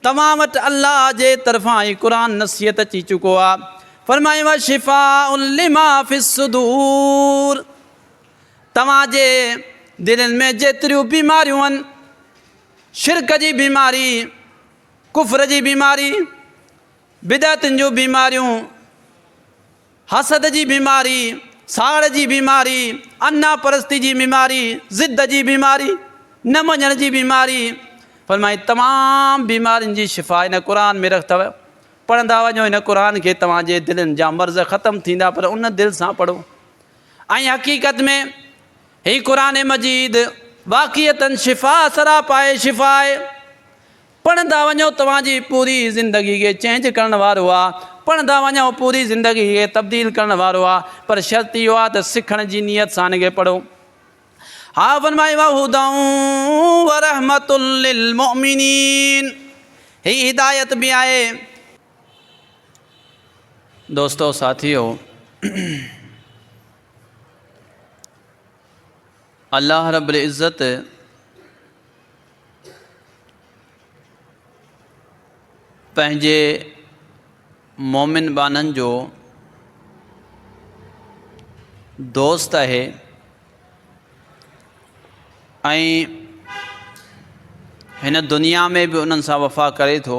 توهان وٽ الله جي طرفان ئي قرآن نصيحت اچي چڪو آهي، فرمايائين وشفاء لما في الصدور توهان جي دلين ۾ جيتريون بيماريون آهن، شرڪ جي بيماري، ڪفر جي بيماري، بدعتن جون بيماريون، حسد جي بيماري، ساڙ جي بيماري، انا پرستي جي بيماري، ضد جي بيماري، نه مڃڻ جي بيماري، فرمائي تمام بيمارين جي شفا هن قرآن ۾ رک اٿو، پڙهندا وڃو هن قرآن کي توهان جي دلين جا مرض ختم ٿيندا پر ان دل سان پڙهو ۽ حقيقت ۾ هي قرآن مجيد واقعيتن شفا سراپائي شفا آهي. پڙهندا وڃو توهان جي پوري زندگي کي چينج ڪرڻ وارو آ پڙهندا وڃو پوري زندگي کي تبديل ڪرڻ وارو آ پر شرط اهو آ ته سکڻ جي نيت سان ان کي پڙهو ها فرمائي وهدًا ورحمة للمؤمنين هي هدايت به آهي. دوستو ساٿيو الله رب العزت پنهنجي مومن ٻانهن جو دوست آهي ۽ هن دنيا ۾ به انهن سان وفا ڪري ٿو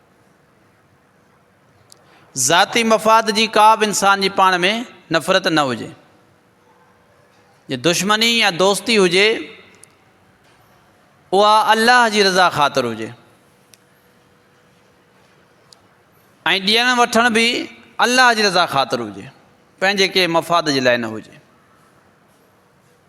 ذاتي مفاد جي ڪا به انسان جي پاڻ ۾ نفرت نه هجي جي دشمني يا دوستي هجي اها الله جي رضا خاطر هجي ۽ ڏيڻ وٺڻ به الله جي رضا خاطر هجي پنهنجي ڪنهن مفاد جي لاء نه هجي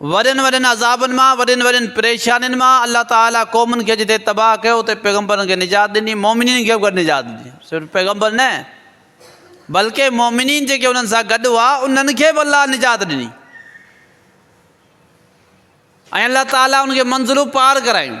وڏن وڏن عذابن مان، وڏين وڏين پريشانين مان الله تعاليٰ قومن کي جتي تباهه ڪيو اتي پيغمبرن کي نجات ڏني، مؤمنين کي به گڏ نجات ڏني. صرف پيغمبر نه بلڪه مؤمنين جيڪي انهن سان گڏ هئا انهن کي به الله نجات ڏني ۽ الله تعاليٰ ان کي منزلون پار ڪرايون.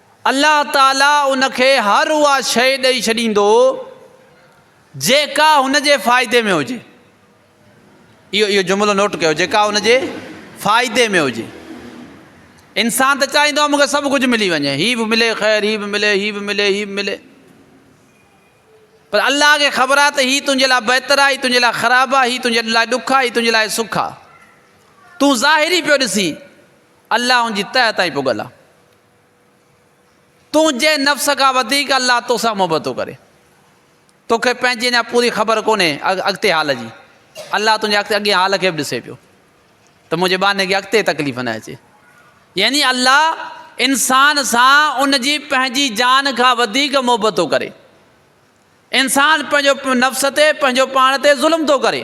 الله تعاليٰ ان کي هر اها شيء ڏئي ڇڏيندو جيڪا هن جي فائدي ۾ هجي. اهو اهو جملو نوٽ ڪيو جيڪا هن جي فائدي ۾ هجي انسان ته چاهيندو مونکي سڀ ڪجهه ملي وڃي هي به ملي خير هي به ملي هي به ملي هي به ملي پر الله کي خبر آهي ته هي تنهنجي لاء بهتر آهي تنهنجي لاء خراب آهي هي تنهنجي لاء ڏک آهي تنهنجي لاء سک آهي تون ظاهري پيو ڏسين الله ان جي تهه تائين پڳل آهي تنهنجي نفس کان وڌيڪ الله تو سان محبت ٿو ڪري توکي پنهنجي اڃا پوري خبر ڪونهي اڳتي حال جي الله تنهنجي اڳتي اڳين حال کي به ڏسي پيو ته منهنجي ٻانهي کي اڳتي تڪليف نه اچي يعني الله انسان سان ان جي پنهنجي جان کان وڌيڪ محبت ٿو ڪري انسان پنهنجو نفس تي پنهنجو پاڻ تي ظلم ٿو ڪري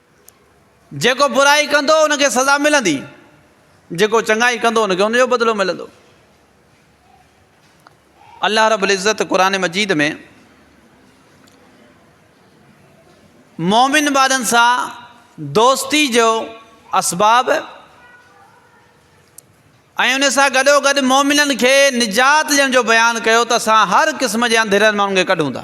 جيڪو برائي ڪندو ان کي سزا ملندي، جيڪو چڱائي ڪندو ان کي ان جو بدلو ملندو. الله رب العزت قرآن مجيد ۾ مومن وارن سان دوستي جو اسباب ۽ ان سان گڏو گڏ مومنن کي نجات ڏيڻ جو بيان ڪيو ته اسان هر قسم جي انڌيرن ماڻهن کي ڪڍون ٿا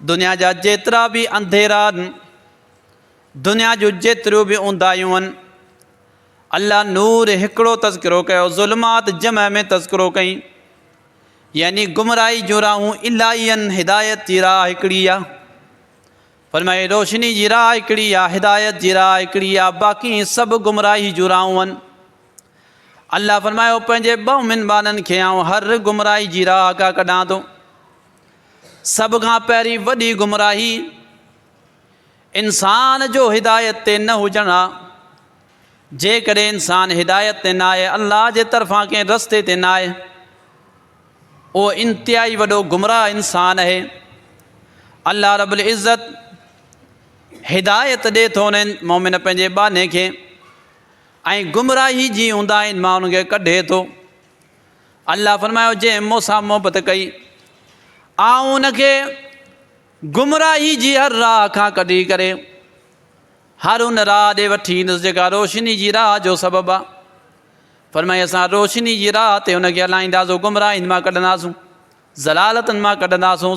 دنيا جا جيترا به انڌيرا آهن، دنيا جون جيتريون به اونداهيون آهن، الله نور هڪڙو تذڪرو ڪيو، ظلمات جمع ۾ تذڪرو ڪئين، يعني گمراهي جون راهون الائي آهن، هدايت جي راهه هڪڙي آهي. فرمائي روشني جي راهه هڪڙي آهي، هدايت جي راهه هڪڙي آهي، باقي سڀ گمراهي جون راهون آهن. الله فرمايو پنهنجي ٻه منبانن کي آئون هر گمراهي جي راهه کان ڪڍان ٿو. سڀ کان پهرين وڏي گمراهي انسان جو هدايت تي نه هجڻ آ جيڪڏهن انسان هدايت تي نه آهي الله جي طرفان ڪنهن رستي تي نه آهي اهو انتهائي وڏو گمراهه انسان آهي الله رب العزت هدايت ڏي ٿو انهن مومن پنهنجي باني کي ۽ گمراهي جي اونداهين مان ان کي ڪڍي ٿو الله فرمايو جنهن مون سان محبت ڪئي آئون ان کي گمراهي جي هر راهه کان ڪڍي ڪري هر ان راهه ڏي وٺي ايندس جيڪا روشني جي راهه جو سبب آ فرمائي اسان روشني جي راهه تي ان کي هلائينداسون گمراهين مان ڪڍنداسون ضلالتن مان ڪڍنداسون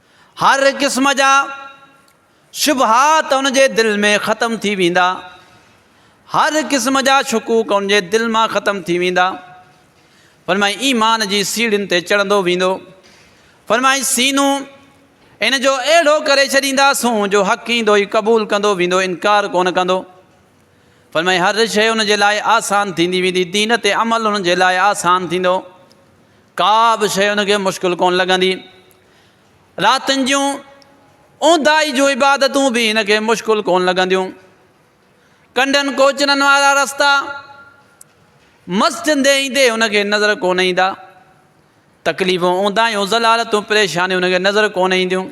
هر قسم جا شبهات ان جي دل ۾ ختم ٿي ويندا، هر قسم جا شڪوڪ ان جي دل مان ختم ٿي ويندا، فرمائي ايمان جي سيڙهين تي چڙهندو ويندو، فرمائي سينو ان جو اهڙو ڪري ڇڏينداسون جو حق ايندو ئي قبول ڪندو ويندو انڪار ڪونه ڪندو فرمائي هر شيء ان جي لاء آسان ٿيندي ويندي دين تي عمل ان جي لاء آسان ٿيندو ڪا به شيء ان کي مشڪل ڪونه لڳندي راتن جون اونداهي جون عبادتون به هن کي مشڪل ڪون لڳنديون ڪنڊن ڪوچرن وارا رستا مسجد دي ايندي هن کي نظر ڪون ايندا تڪليفون اونداهيون ضلالتون پريشانيون هن کي نظر ڪون اينديون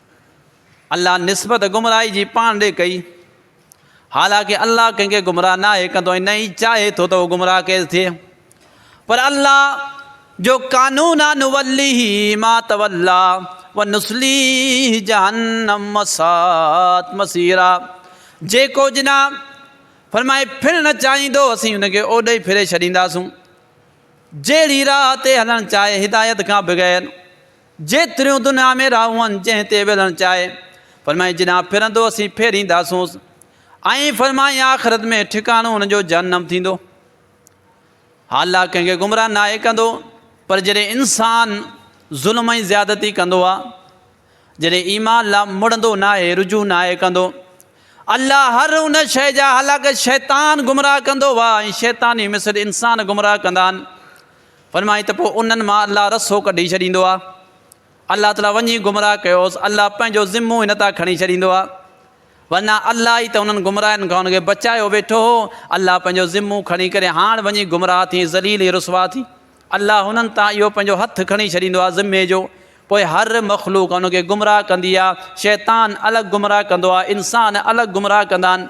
الله نسبت گمراهي جي پاڻ ڏي ڪئي، حالانڪه الله ڪنهن کي گمراهه ناهي ڪندو ۽ نه ئي چاهي ٿو ته اهو گمراهه ڪيل ٿئي. پر الله جو قانون آهي نوليه ما توليٰ ونصليه جهنم وساءت مصيرا جيڪو جناح فرمائي ڦرڻ چاهيندو اسين ان کي اوڏي ئي ڦري ڇڏينداسون جهڙي راهه تي هلڻ چاهي هدايت کان بغير. جيتريون دنيا ۾ راهون جنهن تي ويلڻ چاهي، فرمائي جيڏانهن ڦرندو اسين ڦيرينداسونس ۽ فرمائي آخرت ۾ ٺڪاڻو ان جو جهنم ٿيندو. ها الله ڪنهن کي گمراهه ناهي ڪندو پر جڏهن انسان ظلم ۽ زيادتي ڪندو آ جڏهن ايمان لا مڙندو ناهي رجوع ناهي ڪندو الله هر ان شيء جا هالاڪ شيطان گمراهه ڪندو آ ۽ شيطاني مثل انسان گمراهه ڪندا آهن فرمائي ته پوء انهن مان الله رسو ڪڍي ڇڏيندو آهي. الله تعاليٰ وڃي گمراهه ڪيوس، الله پنهنجو ذمو هن تان کڻي ڇڏيندو آهي. ورنه الله ئي ته انهن گمراهن کان ان کي بچايو ويٺو هو. الله پنهنجو ذمو کڻي ڪري هاڻ وڃي گمراهه ٿي، ذليل ۽ رسوا ٿي. الله هنن تان اهو پنهنجو هٿ کڻي ڇڏيندو آهي ذمي جو. پوء هر مخلوق ان کي گمراهه ڪندي آهي. شيطان الڳ گمراهه ڪندو آهي، انسان الڳ گمراهه ڪندا آهن.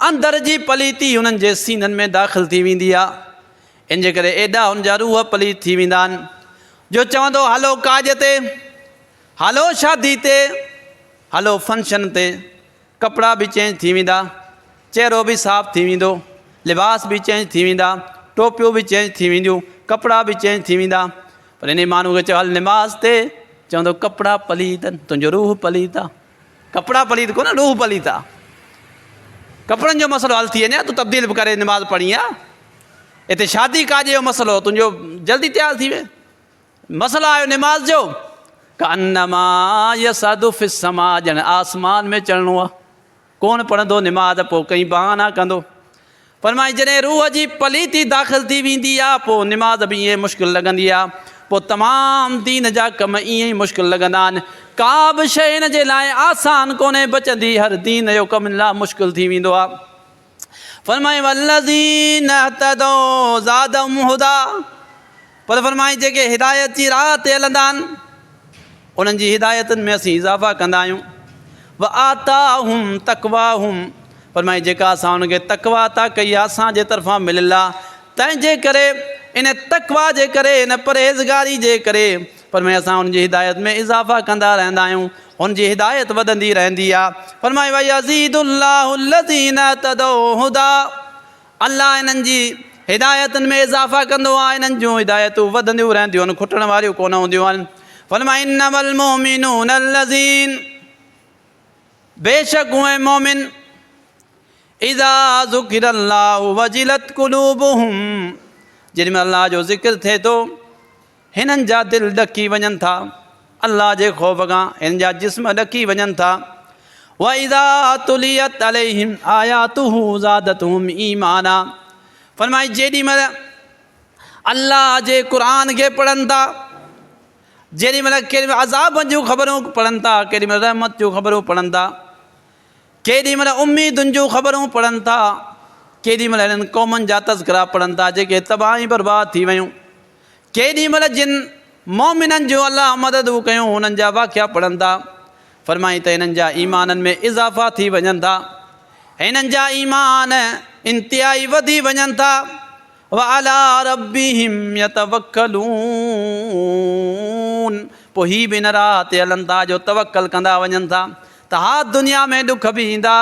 اندر جي پليتي هنن جي سينن ۾ داخل ٿي ويندي آ، ان جي ڪري ايڏا هن جا روح پليت ٿي ويندا آهن، جو چوندو هلو ڪاڄ تي، هلو شادي تي، هلو فنڪشن تي، ڪپڙا به چينج ٿي ويندا، چهرو به صاف ٿي ويندو، لباس به چينج ٿي ويندا، ٽوپيون به چينج ٿي وينديون، ڪپڙا به چينج ٿي ويندا، پر انهي ماڻهو کي چئو هل نماز تي، چوندو ڪپڙا پليت آهن، تنهنجو روح پليت آ. ڪپڙا پليت ڪونه ڏوهه پليت آ ڪپڙن جو مسئلو حل ٿي وڃي تو تبديل به ڪري نماز پڙهڻي آ اتي شادي ڪاڄ جو مسئلو تنهنجو جلدي تيار ٿي وي مسئلو آيو نماز جو ڪنما يسد في السما ڄڻ آسمان ۾ چڙهڻو آ ڪون پڙهندو نماز پو ڪئين بهانا ڪندو فرمائي جڏهن روح جي پليتي داخل ٿي ويندي آ پوء نماز به ائين مشڪل لڳندي آ پوء تمام دين جا ڪم ائين ئي مشڪل لڳندا آهن ڪا به شيء هن جي لاء آسان ڪونهي بچندي هر دين جو ڪم هن لاء مشڪل ٿي ويندو آ فرمائي والذين اهتدوا زادهم هديٰ. پر فرمائي جيڪي هدايت جي راهه تي هلندا آهن انهن جي هدايتن ۾ اسين اضافه ڪندا آهيون وآتاهم تقواهم فرمائي جيڪا اسان ان کي تقوا عطا ڪئي آهي اسان جي طرفان مل الله تنهن جي ڪري ان تقوا جي ڪري ان پرهيزگاري جي ڪري فرمائي اسان ان جي هدايت ۾ اضافه ڪندا رهندا آهيون ان جي هدايت وڌندي رهندي آهي فرمائي ويزيد الله الذين تدعو هدى الله انهن جي هدايتن ۾ اضافه ڪندو آهي، انهن جون هدايتون وڌنديون رهنديون آهن، کٽڻ واريون ڪونه هونديون آهن. فرمايو، انما المؤمنون الذين بيشڪ اهي مؤمن اذا ذڪر الله وجلت قلوبهم جيڏي مهل الله جو ذڪر ٿئي ٿو هنن جا دل ڏڪي وڃن ٿا، الله جي خوف کان هنن جا جسم ڏڪي وڃن ٿا، واذا تليت عليهم آياته زادتهم ايمانا فرمائي جيڏي مهل الله جي قرآن کي پڙهن ٿا، جيڏي مهل ڪيڏي مهل عذاب جون خبرون پڙهن ٿا، ڪيڏي مهل رحمت جون خبرون پڙهن ٿا، ڪيڏي مهل اميدن جون خبرون پڙهن ٿا، ڪيڏي مهل هنن قومن جا تذڪرا پڙهن ٿا جيڪي تباهه ۽ برباد ٿي ويون. ڪيڏي مھل جن، مؤمنن، جون الله مددون ڪيون انھن جا واقعا پڙھن ٿا، فرمائين ته انھن جا ايمانن ۾ اضافا ٿي وڃن ٿا ۽ انھن جا ايمان انتھائي وڌي وڃن ٿا، وعلي ربهم يتوڪلون، پوء ھي به ان راھ تي ھلن ٿا جو توڪل ڪندا وڃن ٿا، ته ها دنيا ۾ ڏک به ايندا،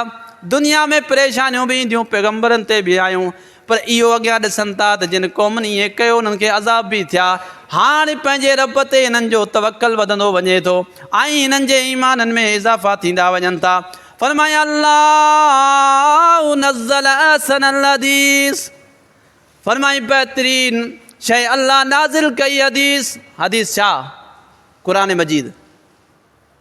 دنيا ۾ پريشانيون به اينديون، پيغمبرن تي به آيون، پر اهو اڳيان ڏسن ٿا ته جن قومن ائين ڪيو انهن کي عذاب به ٿيا، هاڻ پنهنجي رب تي هنن جو توڪل وڌندو وڃي ٿو ۽ هنن جي ايمانن ۾ اضافا ٿيندا وڃن ٿا، فرمايائين الله نزّل احسن الحديث فرمايائين بهترين شيء الله نازل ڪئي حديث، حديث ڇا؟ قرآن مجيد.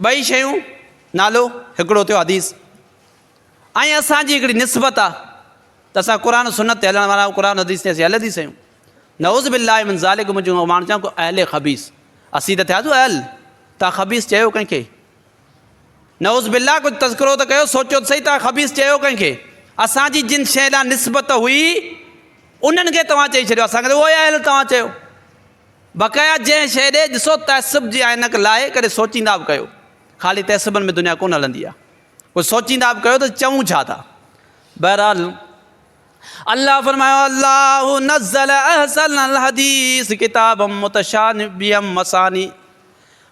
ٻئي شيون، نالو، هڪڙو ٿيو حديث ۽ اسان جي هڪڙي نسبت آ ته اسان قرآن سنت تي هلڻ وارا قرآن حديث تي اسين اهل حديث آهيون نعوذ بالله من ذالک منهنجو ماڻهو چون ڪو اهل خبيث اسين ته ٿياسون اهل تان خبيث چيو ڪنهن کي نعوذ بالله ڪجهه تذڪرو ته ڪيو سوچو ته صحيح تان خبيث چيو ڪنهن کي اسان جي جن شي لا نسبت هئي انهن کي توهان چئي ڇڏيو اسان کي اهل توهان چيو بقايا جنهن شيء ڏي ڏسو تعصب جي عينڪ لاهي ڪڏهن سوچيندا به ڪيو خالي تعصبن ۾ دنيا ڪونه هلندي آهي ڪجهه سوچيندا به ڪيو ته چئون ڇا ٿا بهرحال الله فرمايو الله نزل احسن الحديث کتاب متشابيم مساني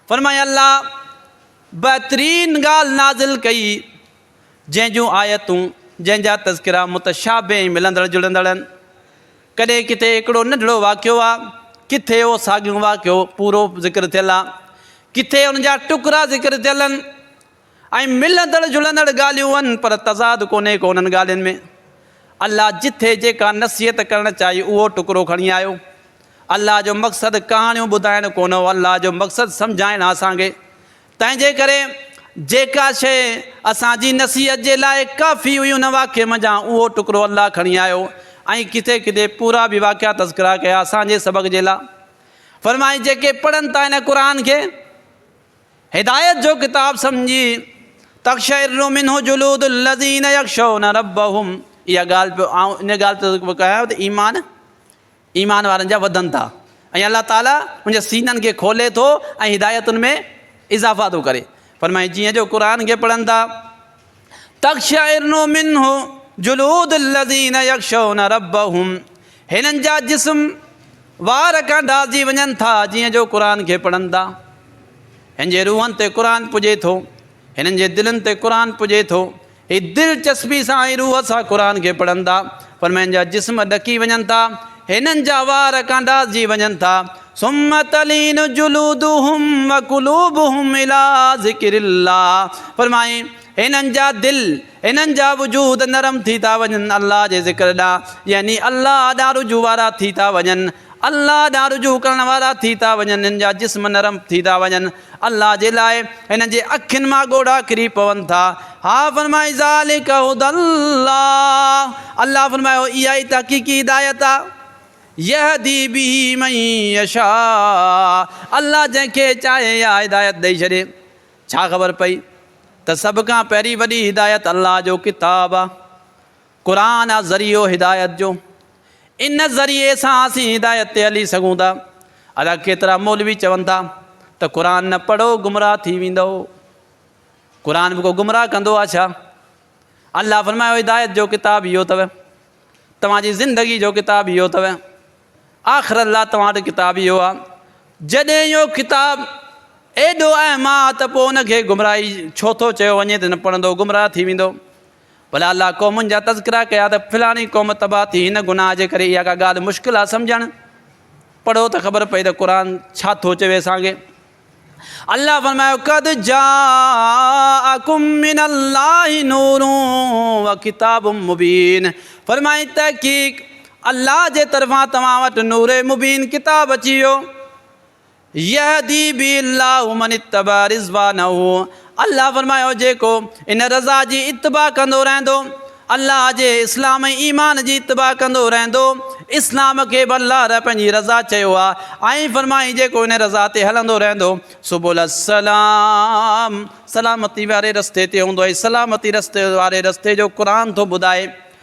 فرمايو الله بهترين ڳالهه نازل ڪئي جنهن جون آيتون جنهن جا تذڪرا متشابه ملندڙ جڙندڙ آهن ڪڏهن ڪٿي هڪڙو ننڍڙو واقعو آ، ڪٿي اهو ساڳيون واقعو پورو ذڪر ٿيل آ، ڪٿي ان جا ٽڪرا ذڪر ٿيل ان ۽ ملندڙ جلندڙ ڳالهيون ان پر تضاد ڪونهي ڪو انهن ڳالهين ۾. الله جٿي جيڪا نصيحت ڪرڻ چاهي اهو ٽڪرو کڻي آيو. الله جو مقصد ڪهاڻيون ٻڌائڻ ڪونه هو الله جو مقصد سمجهائڻ آ اسان کي. تنهنجي ڪري جيڪا شيء اسان جي نصيحت جي لاء ڪافي هئي ان واقعي منجهان اهو ٽڪرو الله کڻي آيو ۽ ڪٿي ڪٿي پورا به واقعا تذڪرا ڪيا اسان جي سبق جي لاء فرمائي جيڪي پڙهن ٿا هن قرآن کي هدايت جو ڪتاب سمجهي تخشعر منه جلود الذين يخشون ربهم اها ڳالهه پيو آئون ان ڳالهه تي ڪيا ته ايمان ايمان وارن جا وڌن ٿا ۽ الله تعالي ان جي سينن کي کولي ٿو ۽ هدايتن ۾ اضافا ٿو ڪري فرمائي جيئن جو قرآن کي پڙهن ٿا تخشعرن منه جلود الذين يخشون ربهم هنن جا جسم وار کان ڊاهجي وڃن ٿا جيئن جو قرآن کي پڙهن ٿا هن جي روحن تي قرآن پڄي ٿو هنن جي دلن تي قرآن پڄي ٿو هي دلچسپي سان ۽ روح سان قرآن کي پڙهن ٿا، پر مئن جا جسم ڏڪي وڃن ٿا، هنن جا وار ڪانڊاسجي وڃن ٿا، ثم تلين جلودهم وقلوبهم الي ذڪر الله فرمائين، هنن جا دل، هنن جا وجود نرم ٿي ٿا وڃن الله جي ذڪر ڏانهن يعني الله ڏانهن رجوع وارا ٿي ٿا وڃن. الله ڏانهن رجوع ڪرڻ وارا ٿي ٿا وڃن، هن جا جسم نرم ٿي ٿا وڃن، الله جي لاء هنن جي اکين مان ڳوڙها ڪري پون ٿا. ها فرمائي ذلڪ هدي الله، الله فرمايو اها ئي تحقيقي هدايت آهي، يهدي به من يشاء، الله جنهن کي چاهي اها هدايت ڏئي ڇڏي. ڇا خبر پئي ته سڀ کان پهرين وڏي هدايت الله جو ڪتاب آهي. قرآن آ ذريعو هدايت جو، ان ذريعي سان اسين هدايت تي هلي سگهون ٿا. ادا ڪيترا مولوي چون ٿا ته قرآن نه پڙهو گمراهه ٿي ويندؤ. قرآن به ڪو گمراهه ڪندو آ ڇا؟ الله فرمايو هدايت جو ڪتاب اهو اٿو، توهان جي زندگي جو ڪتاب اهو اٿو، آخرت لا توهان وٽ ڪتاب اهو آ. جڏهن اهو ڪتاب ايڏو اهم آ ته پوء ان کي گمراهي ڇو ٿو چيو وڃي ته نه پڙهندو گمراهه ٿي ويندو. ڀلا الله قومن جا تذڪرا ڪيا ته فلاڻي قوم تباهه ٿي هن گناهه جي ڪري اها ڪا ڳالهه مشڪل آهي سمجهڻ پڙهو ته خبر پئي ته قرآن ڇا ٿو چوي اسانکي الله فرمايو قد جاءكم من الله نور وكتاب مبين فرمائي تحقيق الله جي طرفان توهان وٽ نور مبين ڪتاب اچي ويو يهدي به الله من اتبع رضوانه الله فرمايو جيڪو ان رضا جي اتباع ڪندو رهندو، الله جي اسلام ۽ ايمان جي اتباع ڪندو رهندو، اسلام کي به الله رح پنهنجي رضا چيو آ، ۽ فرمائين جيڪو ان رضا تي هلندو رهندو سبل السلام سلامتي واري رستي تي هوندو ۽ سلامتي رستي واري رستي جو قرآن ٿو ٻڌائي.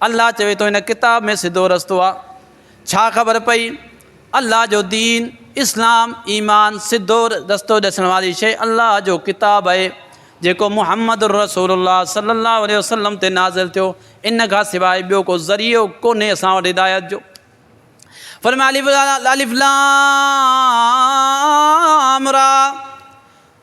الله چوي ٿو ان ڪتاب ۾ سڌو رستو آ. ڇا خبر پئي؟ الله جو دين، اسلام، ايمان، سڌو رستو ڏسڻ واري شيء الله جو ڪتاب اهي جيڪو محمد الرسول الله صلي الله عليه وسلم تي نازل ٿيو ان کان سواء ٻيو ڪو ذريعو ڪونهي اسان وٽ هدايت جو. فرمايو الف لام را.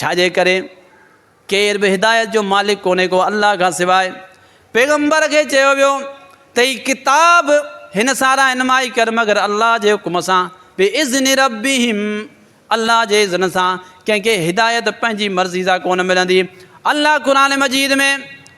ڇاجي ڪري ڪير به هدايت جو مالڪ ڪونهي ڪو الله کان سواء. پيغمبر کي چيو ويو ته هي ڪتاب هن سارا انمائي ڪر مگر الله جي حڪم سان، باذن ربهم، الله جي اذن سان، ڪنهن کي هدايت پنهنجي مرضي سان ڪونه ملندي. الله قرآن مجيد ۾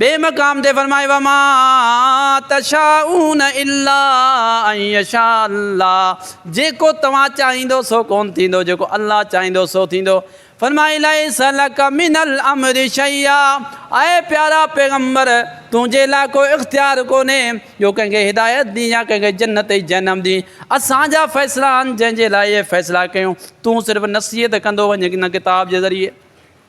ٻئي مقام تي فرمائي، وما تشاءون الا ان يشاء الله جيڪو توهان چاهيندو سو ڪونه ٿيندو جيڪو الله چاهيندو سو ٿيندو. فرمائي، ليس لڪ من الامر شيئا اي پيارا پيغمبر تنهنجي لاء ڪو اختيار ڪونهي جو ڪنهن کي هدايت ڏين يا ڪنهن کي جنت ۽ جهنم ڏين اسان جا فيصلا آهن جنهن جي لاء اهي فيصلا ڪيون تون صرف نصيحت ڪندو وڃ نه ڪتاب جي ذريعي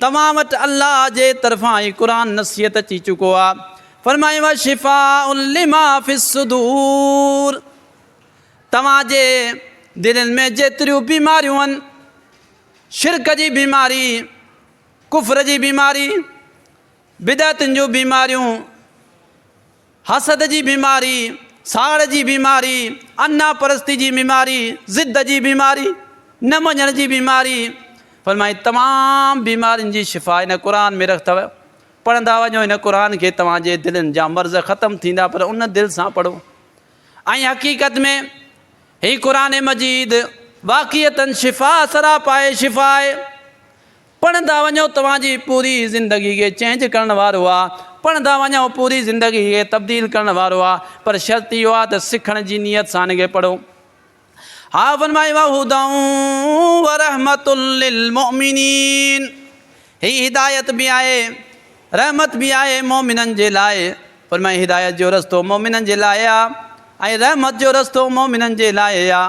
توهان وٽ الله جي طرفان ئي قرآن نصيحت اچي چڪو آهي، فرمايو وشفاء لما في الصدور توهان جي دلين ۾ جيتريون بيماريون آهن، شرڪ جي بيماري، ڪفر جي بيماري، بدعتن جون بيماريون، حسد جي بيماري، ساڙ جي بيماري، انا پرستي جي بيماري، ضد جي بيماري، نه مڃڻ جي بيماري، فرمائي تمام بيمارين جي شفا هن قرآن ۾ رک ٿئو پڙهندا وڃو هن قرآن کي توهان جي دلين جا مرض ختم ٿيندا پر ان دل سان پڙهو ۽ حقيقت ۾ هي قرآن مجيد واقعيتن شفا سراپائي شفا آهي پڙهندا وڃو توهان جي پوري زندگي کي چينج ڪرڻ وارو آ پڙهندا وڃو پوري زندگي کي تبديل ڪرڻ وارو آ پر شرط اهو آ ته سکڻ جي نيت سان ان کي پڙهو آء فرمايو آ هدًا ورحمة للمؤمنين هي هدايت به آهي رحمت به آهي مؤمنن جي لاء فرمايو هدايت جو رستو مؤمنن جي لاء آ ۽ رحمت جو رستو مؤمنن جي لاء آ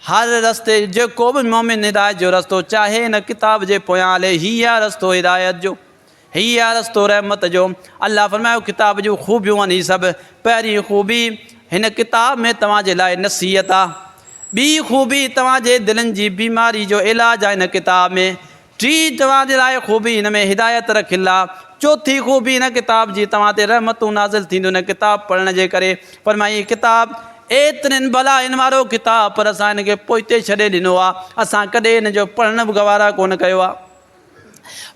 هر رستي جيڪو به مومن هدايت جو رستو چاهي هن ڪتاب جي پويان هلي هي آهي رستو هدايت جو هي آهي رستو رحمت جو الله فرمايو ڪتاب جون خوبيون آهن هي سڀ پهرين خوبي هن ڪتاب ۾ توهان جي لاء نصيحت آهي ٻي خوبي توهان جي دلن جي بيماري جو علاج آهي هن ڪتاب ۾ ٽين توهان جي لاء خوبي هن ۾ هدايت رک الله چوٿين خوبي هن ڪتاب جي توهان تي رحمتون نازل ٿينديون هن ڪتاب پڙهڻ جي ڪري فرمائي هي ڪتاب ايترين بلاين وارو ڪتاب پر اسان هن کي پوئتي ڇڏي ڏنو آهي اسان ڪڏهن هن جو پڙهڻ به گوارا ڪونه ڪيو آهي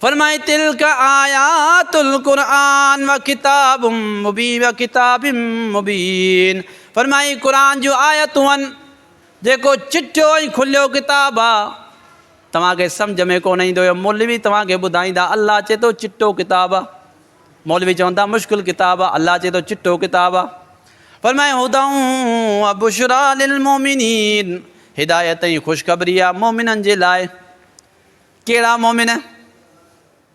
فرمائي تلڪ آيات القرآن و ڪتاب مبين و ڪتاب مبين فرمائي قرآن جون آيتون آهن جيڪو چٽيو ۽ کليو ڪتاب آهي توهان کي سمجهه ۾ ڪونه ايندو اهو مولوي توهان کي ٻڌائيندا الله چي ٿو چٽو ڪتاب آ مولوي چون ٿا مشڪل ڪتاب آ الله چي ٿو چٽو ڪتاب آ فرمائي هداء و بشرا للمومنين هدايت ۽ خوشخبري آ مومنن جي لاء ڪهڙا مومن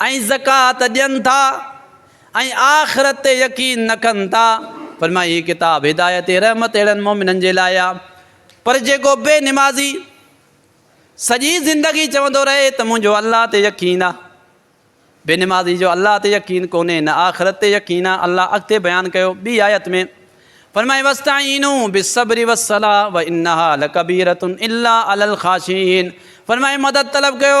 ۽ زڪوات ڏين ٿا ۽ آخرت تي يقين نه ڪن ٿا، فرمايائين، هي ڪتاب هدايت ۽ رحمت اهڙن مؤمنن جي لاء آهي، پر جيڪو بي نمازي سڄي زندگي چوندو رهي ته منهنجو الله تي يقين آهي، بي نمازي جو الله تي يقين ڪونهي نه آخرت تي يقين آهي، الله اڳتي بيان ڪيو ٻي آيت ۾ فرمائي، واستعينو بالصبر والصلاة وانها لڪبيرة الا علي الخاشعين فرمائي مدد طلب ڪيو.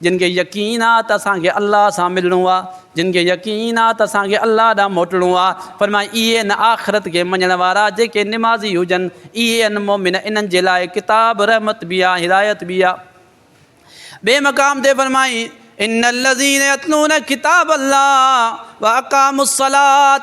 جن کي يقين آ ته اسان کي الله سان ملڻو آ، جن کي يقين آ ته اسان کي الله ڏانهن موٽڻو آ، فرمائي اهي هن آخرت کي مڃڻ وارا جيڪي نمازي هجن، اهي هن مؤمن انهن جي لاء ڪتاب، رحمت، به آ هدايت به آ. ٻئي مقام تي فرمائي، ان الذين يتلون کتاب الله واقاموا الصلاة،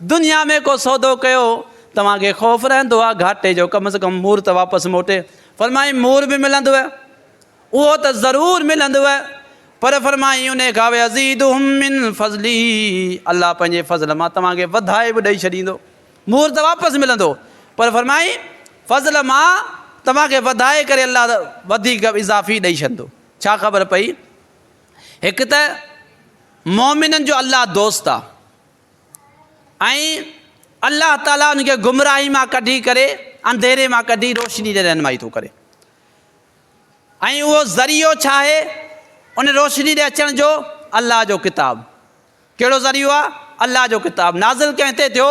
دنيا ۾ ڪو سودو ڪيو، توهان کي خوف رهندو آهي گهاٽي جو، ڪم از ڪم مور ته واپس موٽي. فرمايائين مور به ملندوء، اهو ته ضرور ملندوء، پر فرمايائين انهي کان ويزيدهم من فضله، الله پنهنجي فضل مان توهان کي وڌائي به ڏئي ڇڏيندو. مور ته واپس ملندو، پر فرمايائين فضل مان توهان کي وڌائي ڪري الله وڌيڪ اضافي ڏئي ڇڏندو. ڇا خبر پئي؟ هڪ ته مؤمنن جو الله دوست آهي. ۽ الله تعالي ان کي گمراهي مان ڪڍي ڪري انڌيري مان ڪڍي روشني ڏي رهنمائي ٿو ڪري ۽ اهو ذريعو ڇا آهي ان روشني ڏي اچڻ جو الله جو ڪتاب ڪهڙو ذريعو آهي الله جو ڪتاب نازل ڪنهن تي ٿيو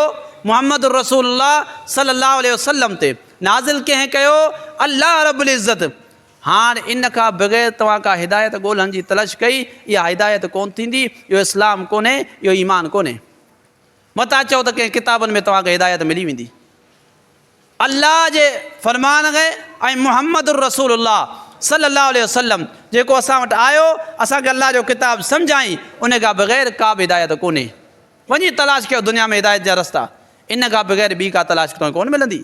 محمد الرسول الله صلي الله عليه وسلم تي نازل ڪنهن ڪيو الله رب العزت هاڻ ان کان بغير توهان ڪا هدايت ڳولهڻ جي تلش ڪئي، اها هدايت ڪونه ٿيندي، اهو اسلام ڪونهي، اهو ايمان ڪونهي. متان چئو ته ڪنهن ڪتابن ۾ توهان کي هدايت ملي ويندي. الله جي فرمان کي ۽ محمد الرسول الله صلّي الله عليه وسلّم جيڪو اسان وٽ آيو، اسان کي الله جو ڪتاب سمجهائين، ان کان بغير ڪا به هدايت ڪونهي. وڃي تلاش ڪيو دنيا ۾ هدايت جا رستا، ان کان بغير ٻي ڪا تلاش توهان کي ڪونه ملندي.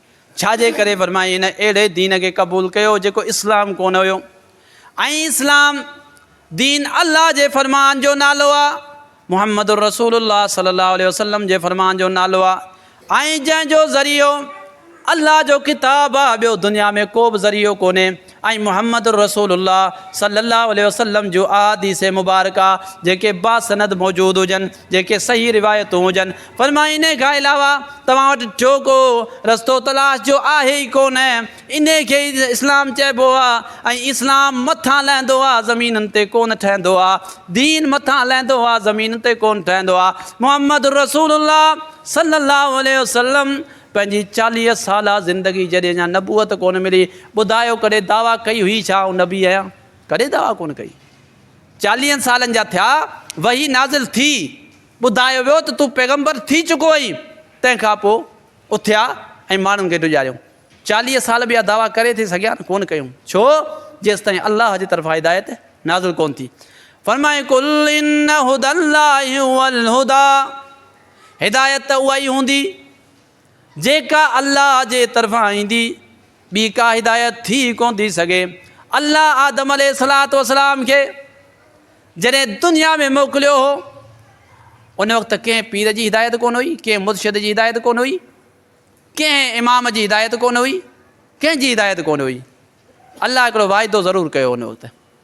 ڇا جي ڪري فرمائي هن اهڙي دين کي قبول ڪيو جيڪو اسلام ڪونه هيو ۽ اسلام دين الله جي فرمان جو نالو آ محمد الرسول الله صلي الله عليه وسلم جي فرمان جو نالو آ ۽ جنهن جو ذريعو الله جو ڪتاب آ ٻيو دنيا ۾ ڪو به ذريعو ڪونهي ۽ محمد الرسول الله صلي الله عليه وسلم جون احاديث مبارڪه جيڪي باسند موجود هجن، جيڪي صحيح روايتون هجن، فرمائي انهي کان علاوه توهان وٽ ٽيو ڪو رستو تلاش جو آهي ئي ڪونه، انهي کي ئي اسلام چئبو آ ۽ اسلام مٿان لهندو آ زمينن تي ڪونه ٺهندو آ، دين مٿان لهندو آ زمينن تي ڪونه ٺهندو آ، محمد الرسول الله صلي الله عليه وسلم پنهنجي چاليهه سالا زندگي جڏهن اڃا نبوت ڪونه ملي، ٻڌايو ڪڏهن دعويٰ ڪئي هئي ڇا آئون نبي آهيان؟ ڪڏهن دعويٰ ڪونه ڪئي. چاليهن سالن جا ٿيا، وحي نازل ٿي، ٻڌايو ويو ته تون پيغمبر ٿي چڪو آهين، تنهن کان پوء اٿيا ۽ ماڻهن کي ڊيڄاريو. چاليهه سال به اها دعويٰ ڪري ٿي سگهيا نه؟ ڪونه ڪيون. ڇو؟ جيستائين الله جي طرفان هدايت نازل ڪونه ٿي. فرمائي قل ان هدي الله هو الهدي. هدايت ته اها ئي هوندي، جيڪا الله جي طرفان ايندي، ٻي ڪا هدايت ٿي ئي ڪونه ٿي سگهي. الله آدم عليه الصلوة والسلام کي جڏهن دنيا ۾ موڪليو هو، ان وقت ڪنهن پير جي هدايت ڪونه هئي، ڪنهن مرشد جي هدايت ڪونه هئي، ڪنهن امام جي هدايت ڪونه هئي، ڪنهن جي هدايت ڪونه هئي. الله هڪڙو واعدو ضرور ڪيو هو ان وقت.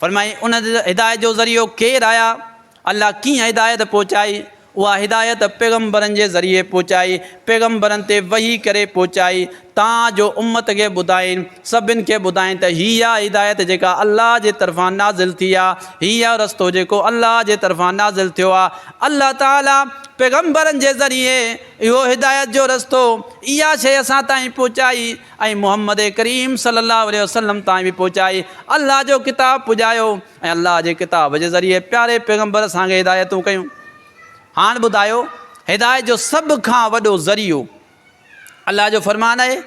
فرمائي، ان هدايت جو ذريعو ڪير آيا؟ الله ڪيئن هدايت پهچائي؟ اها هدايت پيغمبرن جي ذريعي پهچائي، پيغمبرن تي وحي ڪري پهچائي، تان جو امت کي ٻڌائين، سڀن کي ٻڌائين ته هيء آ هدايت جيڪا الله جي طرفان نازل ٿي آ، هيء آ رستو جيڪو الله جي طرفان نازل ٿيو آ. الله تعاليٰ پيغمبرن جي ذريعي اهو هدايت جو رستو، اها شيء اسان تائين پهچائي. ۽ محمد ڪريم صلي الله عليه وسلم تائين به پهچائي الله جو ڪتاب پڄايو ۽ الله جي ڪتاب جي ذريعي پياري پيغمبر اسان کي هدايتون ڪيون هاڻ ٻڌايو هدايت جو سڀ کان وڏو ذريعو الله جو فرمان آهي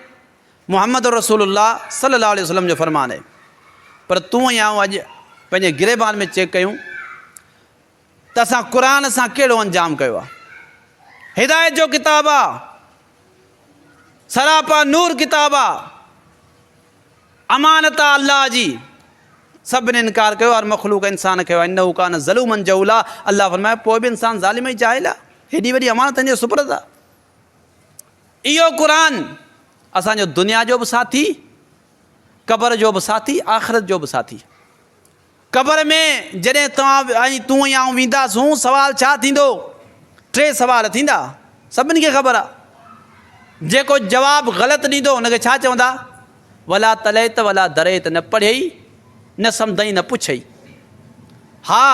محمد رسول الله صلي الله عليه وسلم جو فرمان آهي پر تون ۽ آئون اڄ پنهنجي گريبان ۾ چيڪ ڪيون ته اسان قرآن سان ڪهڙو انجام ڪيو آهي. هدايت جو ڪتاب آهي. سراپا نور ڪتاب آهي. امانت آهي الله جي. سڀني انڪار ڪيو هر مخلوق انسان کي انه ڪان ظلومن جهولا الله فرمايو پوء به انسان ظالم ۽ جاهل آهي هيڏي وڏي امانت تنهنجي سپرد آهي اهو قرآن اسان جو دنيا جو به ساٿي قبر جو به ساٿي آخرت جو به ساٿي قبر ۾ جڏهن توهان ۽ تون يا آئون وينداسون، سوال ڇا ٿيندو؟ ٽي سوال ٿيندا، سڀني کي خبر آهي. جيڪو جواب غلط ڏيندو ان کي ڇا چوندا؟ ولا تليت ولا دريت، نه پڙهيئي، نه سمڌئي، نه پڇئي. ها،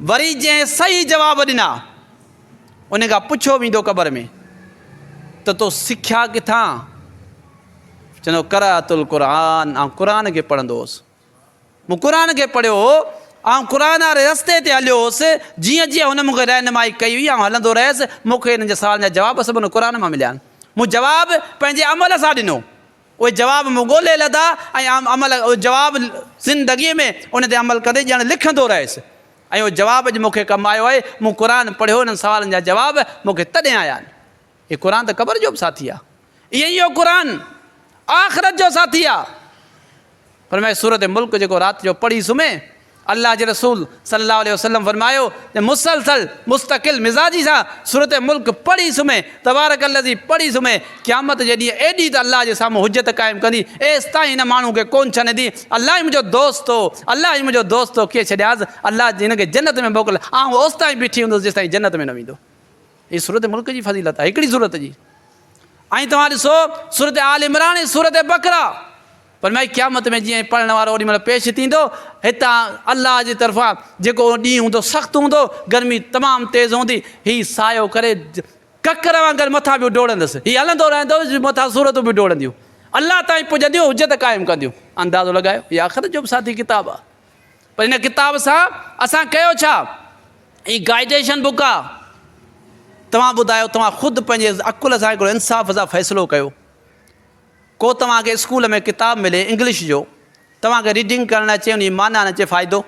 وري جنهن صحيح جواب ڏنا، ان کان پڇيو ويندو قبر ۾ ته تو سکيا ڪٿان؟ چوندو قرات القرآن، آئون قرآن کي پڙهندو هوس. مون قرآن کي پڙهيو هو، آئون قرآن واري رستي تي هليو هوس، جيئن جيئن هن مون کي رهنمائي ڪئي هئي، آئون هلندو رهيس. مون کي هنن جي سوالن جا جواب سڀ هن قرآن مان مليا. مون جواب پنهنجي عمل سان ڏنو. اهي جواب مون ڳولهي لڌا ۽ آئون عمل اهي جواب زندگيء ۾ انهن تي عمل ڪندي ڄڻ لکندو رهيس ۽ اهو جواب اڄ مون کي ڪم آيو آهي. مون قرآن پڙهيو، انهن سوالن جا جواب مون کي تڏهن آيا. هي قرآن ته قبر جو به ساٿي آهي ائين ئي اهو قرآن آخرت جو ساٿي آهي فرمائي سورت ملڪ جيڪو رات جو پڙهي سمهي الله جي رسول صلي الله عليه وسلم فرمايو ته مسلسل مستقل مزاجي سان سورت ملڪ پڙهي سمهي تبارڪ الذي پڙهي سمهي قيامت جي ڏينهن ايڏي ته الله جي سامهون حجت قائم ڪندي ايستائين هن ماڻهو کي ڪون ڇنندي الله هي منهنجو دوست هو الله هي منهنجو دوست هو ڪيئن ڇڏياس الله هن کي جنت ۾ موڪل آئون اوستائين بيٺي هوندس جيستائين جنت ۾ نه ويندو هي سورت ملڪ جي فضيلت آهي هڪڙي سورت جي. ۽ توهان ڏسو سورت آل عمران ۽ سورت بقره فرمائي قيامت ۾ جيئن پڙهڻ وارو اوڏي مهل پيش ٿيندو هتان الله جي طرفان جيڪو اهو ڏينهن هوندو سخت هوندو گرمي تمام تيز هوندي هي سايو ڪري ڪڪر وانگر مٿان به ڊوڙندس هي هلندو رهندو مٿان سورتون به ڊوڙنديون الله تائين پڄنديون حجت قائم ڪنديون اندازو لڳايو هي آخرت جو به ساٿي ڪتاب آهي پر هن ڪتاب سان اسان ڪيو ڇا؟ هي گائيڊيشن بڪ آ توهان ٻڌايو توهان خود پنهنجي عقل سان هڪڙو انصاف سان فيصلو ڪيو ڪو توهان کي اسڪول ۾ ڪتاب ملي انگلش جو توهان کي ريڊنگ ڪرڻ اچي ان جي معنيٰ نه اچي فائدو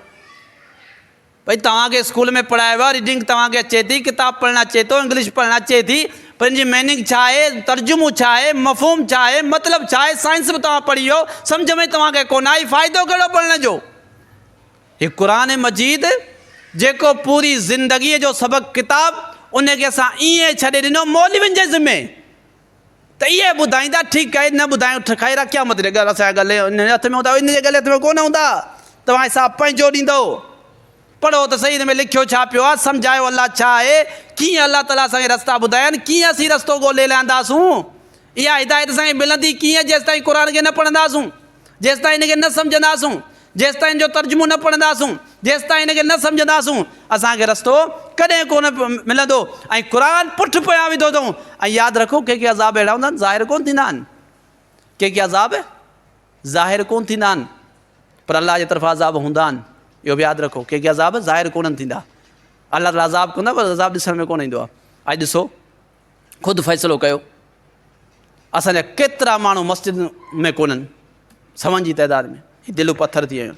ڀئي توهان کي اسڪول ۾ پڙهايو ويو آ ريڊنگ توهان کي اچي ٿي ڪتاب پڙهڻ اچي ٿو انگلش پڙهڻ اچي ٿي ان جي ميننگ ڇا آهي، ترجمو ڇا آهي، مفهوم ڇا آهي، مطلب ڇا آهي، سائنس به توهان پڙهي ويو، سمجهه ۾ توهان کي ڪونه آئي، فائدو ڪهڙو پڙهڻ جو؟ هي قرآن مجيد جيڪو پوري زندگيء جو سبق ڪتاب ان کي اسان ائين ڇڏي ڏنو مولوين جي ذمي ته اهي ٻڌائيندا ٺيڪ آهي نه ٻڌايو ٺڪ آهي رکيا مت ڏي ڳل اسان جي ڳلي ان جي هٿ ۾ هوندا ان جي ڳلي هٿ ۾ ڪونه هوندا توهان حساب پنهنجو ڏيندو. پڙهو ته سهي ان ۾ لکيو ڇا پيو آ، سمجهايو الله ڇا آهي، ڪيئن الله تعاليٰ اسان کي رستا ٻڌايا آهن، ڪيئن اسين رستو ڳولهي لهنداسون، اها هدايت اسان کي ملندي ڪيئن جيستائين قرآن کي نه پڙهنداسون، جيستائين ان کي نه سمجهنداسون، جيستائين ان جو ترجمو نه پڙهنداسون، جيستائين ان کي نه سمجهنداسون اسان کي رستو ڪڏهن ڪونه ملندو ۽ قرآن پٺ پويان وڌو اٿئون ۽ ياد رکو ڪي ڪي عذاب اهڙا هوندا آهن ظاهر ڪونه ٿيندا آهن ڪي ڪي عذاب ظاهر ڪونه ٿيندا آهن پر الله جي طرفان عذاب هوندا آهن اهو به ياد رکو ڪي ڪي عذاب ظاهر ڪونه ٿيندا الله تعالیٰ عذاب ڪندا پر عذاب ڏسڻ ۾ ڪونه ايندو آهي اڄ ڏسو خود فيصلو ڪيو اسانجا ڪيترا ماڻهو مسجد ۾ ڪونن سون جي تعداد ۾ دلو پٿر ٿي ويون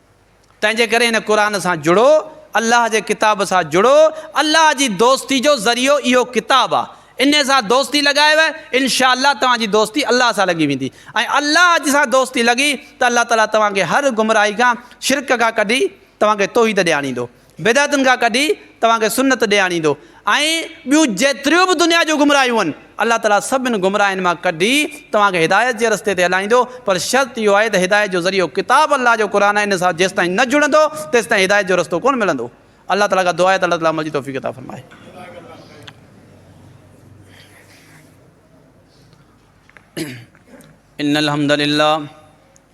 تنهن جي ڪري هن قرآن سان جڙو، الله جي ڪتاب سان جڙو، الله جي دوستي جو ذريعو اهو ڪتاب آ، انهي سان دوستي لڳايو انشاء الله توهان جي دوستي الله سان لڳي ويندي ۽ الله جي سان دوستي لڳي ته الله تعالي توهان کي هر گمراهي کان شرڪ کان ڪڍي توهان کي توحيد ڏي آڻيندو. بدعتن کان ڪڍي توهان کي سنت ڏي آڻيندو ۽ ٻيون جيتريون به دنيا جون گمراهيون آهن الله تعالي سڀني گمراهين مان ڪڍي توهان کي هدايت جي رستي تي هلائيندو پر شرط اهو آهي ته هدايت جو ذريعو ڪتاب الله جو قرآن آهي ان سان جيستائين نه جڙندو تيستائين هدايت جو رستو ڪونه ملندو الله تعالي کان دعا آهي ته الله تعالي عمل جي توفيق عطا فرمائي ان الحمد لله